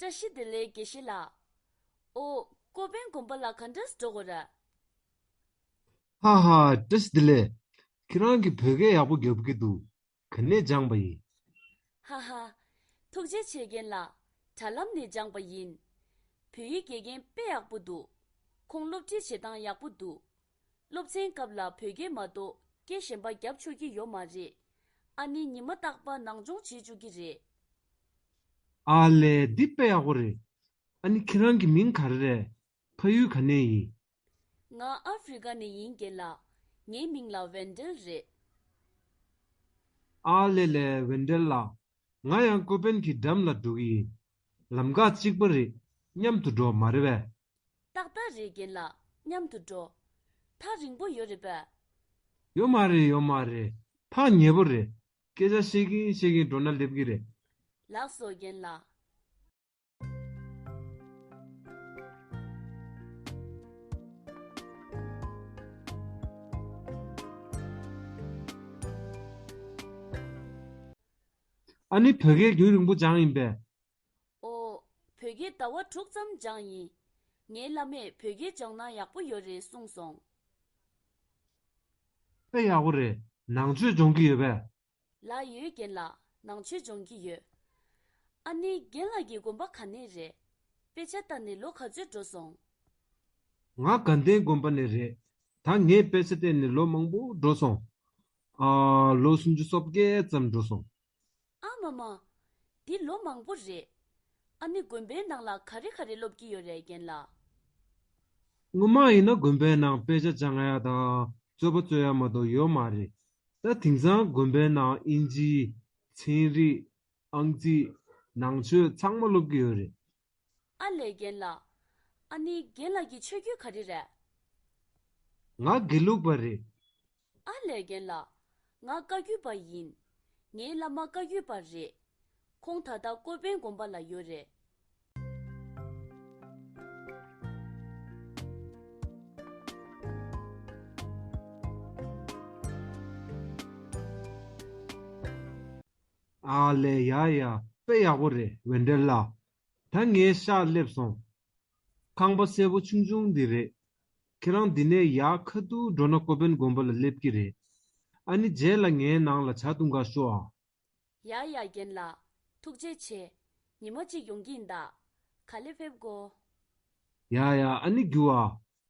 བཀྲ་ཤིས་བདེ་ལེགས་དགེ་བཤེས་ལགས། ཨོ། ཀོ་པན་དགོན་པ་ལ་ག་འདྲ་སུ་འགྲོ་གོ་ར། ཧ་ཧ་བཀྲ་ཤིས་བདེ་ལེགས། ཁྱེད་རང་གིས་བོད་སྐད་ཡག་པོ་རྒྱབ་ཀྱི་འདུག་ག་ནས་སྦྱངས་པ་ཡིན། ཧ་ཧ། ཐུགས་རྗེ་ཆེ་རྒན་ལགས། དྲ་ལམ་ནས་སྦྱངས་པ་ཡིན། བོད་ཡིག་དགེ་རྒན་དཔེ་ཡག་པོ་འདུག། ཁོང་སློབ་ཁྲིད་བྱེད་སྟངས་ཡག་པོ་འདུག། སློབ་ཚན་སྐབས་ལ་བོད་སྐད་མ་གཏོགས་སྐད་གཞན་པ་རྒྱབ་ཆོག་གི་ཡོད་མ་རེད། ཨ་ནི་ཉི་མ་རྟག་པ་ནང་སྦྱོང་བྱེད་བཅུག་གི་རེད། ཨ་ལས་འདི་དཔེ་ཡག་པོ་རེད། ཨ་ནི་ཁྱེད་རང་གི་མིང་ག་རེ་རེད། ཕ་ཡུལ་ག་ནས་ཡིན། ང་ཨ་ཕི་རི་ཀ་ནས་ཡིན་རྒན་ལགས། ངའི་མིང་ལ་བན་དྲེལ་རེད། ཨ་ལས་ལས་བན་དྲེལ་ལགས། ང་ཡང་ཀོ་པན་གྱི་འགྲམ་ལ་འགྲོ་གི་ཡིན། ལམ་ཁ་གཅིག་པ་རེད། མཉམ་དུ་འགྲོ་མ་རེད་བས། ཏག་ཏག་རེད་རྒན་ལགས་མཉམ་དུ་འགྲོ། ཐག་རིང་པོ་ཡོད་རེད་པས། ཡོད་མ་རེད་ཡོད་མ་རེད་ཐག་ཉེ་པོ་རེད། སྐད་ཆ་བཤད་གིན་བཤད་གིན་འགྲོ་ན་ལེབ་གི་རེད། ལགས་སོ་རྒན་ལགས། ཨ་ནི་བོད་སྐད་རྒྱུན་རིང་པོ་སྦྱངས་ཡིན་པས། ཨོ། བོད་རྒྱའི་ཟླ་བ་དྲུག་ཙམ་སྦྱངས་ཡིན། ངའི་བླ་མས་བོད་རྒྱའི་སྦྱོང་ན་ཡག་པོ་ཡོད་རེད་གསུངས་སོང། ཨེ་ཡག་པོ་རེད་ནང་ཆོས་སྦྱོང་གི་ཡོད་པས། ལགས་ཡོད་རྒན་ལགས་ནང་ཆོས་སྦྱོང་གི་ཡོད། ཨ་ནི་རྒན་ལགས་ཀྱི་དགོན་པ་ག་ནས་རེད། དཔེ་ཆ་ལྟ་ནས་ལོ་ག་ཚོད་འགྲོ་སོང། ང་དགའ་ལྡན་དགོན་པ་ནས་རེད་ད་ངས་དཔེ་ཆ་བལྟས་ནས་ལོ་མང་པོ་འགྲོ་སོང། ཨ། ལོ་སུམ་ཅུ་སོ་བརྒྱད་ཙམ་འགྲོ་སོང། ཨ་མ་མ། འདི་ལོ་མང་པོ་རེད། ཨ་ནི་དགོན་པའི་ནང་ལ་ག་རེ་ག་རེ་སློབ་ཀྱི་ཡོད་རེད་རྒན་ལགས། སྔོན་མ་ཡིན་ན་དགོན་པའི་ནང་དཔེ་ཆ་སྦྱང་ཡ་དང་རྩོད་པ་རྩོད་ཡ་མ་གཏོགས་ཡོད་མ་རེད། ད་དེང་སང་དགོན་པའི་ནང་དབྱིན་ཇི། ཚན་རིག། ཨང་རྩིས། ནང་ཆོས་ཚང་མ་སློབ་ཀྱི་ཡོད་རེད། ཨ་ལས་རྒན་ལགས། ཨ་ནི་རྒན་ལགས་ཀྱི་ཆོས་བརྒྱུད་ག་རེ་རེད། ང་དགེ་ལུགས་པ་རེད། ཨ་ལས་རྒན་ལགས། ང་བཀའ་བརྒྱུད་པ་ཡིན། ངའི་བླ་མ་བཀའ་བརྒྱུད་པ་རེད། ཁོང་ད་ལྟ་ཀོ་པན་དགོན་པ་ལ་ཡོད་རེད། ཨ་ལས་ཡ་ཡ་དཔེ་ཡག་པོ་རེད་འོད་འདྲེ་ལགས་ད་ངའི་ཤག་སླེབས་སོང། ཁང་པ་སེར་པོ་ཆུང་ཆུང་འདི་རེད། ཁྱེད་རང་འདི་ནས་ཡར་ཁ་ཏུ་འགྲོ་ན་ཀོ་པན་དགོན་པ་ལ་སླེབས་ཀྱི་རེད། ཨ་ནི་རྗེས་ལ་ངའི་ནང་ལ་བྱ་བཏུང་ག་ཤོག་ཨ། ཡ་ཡ་རྒན་ལགས་ཐུགས་རྗེ་ཆེ། ཉི་མ་གཅིག་ཡོང་གིན་གདའ། ག་ལེ་ཕེབས་དགོ། ཡ་ཡ་ཨ་ནི་རྒྱུ་ཨ།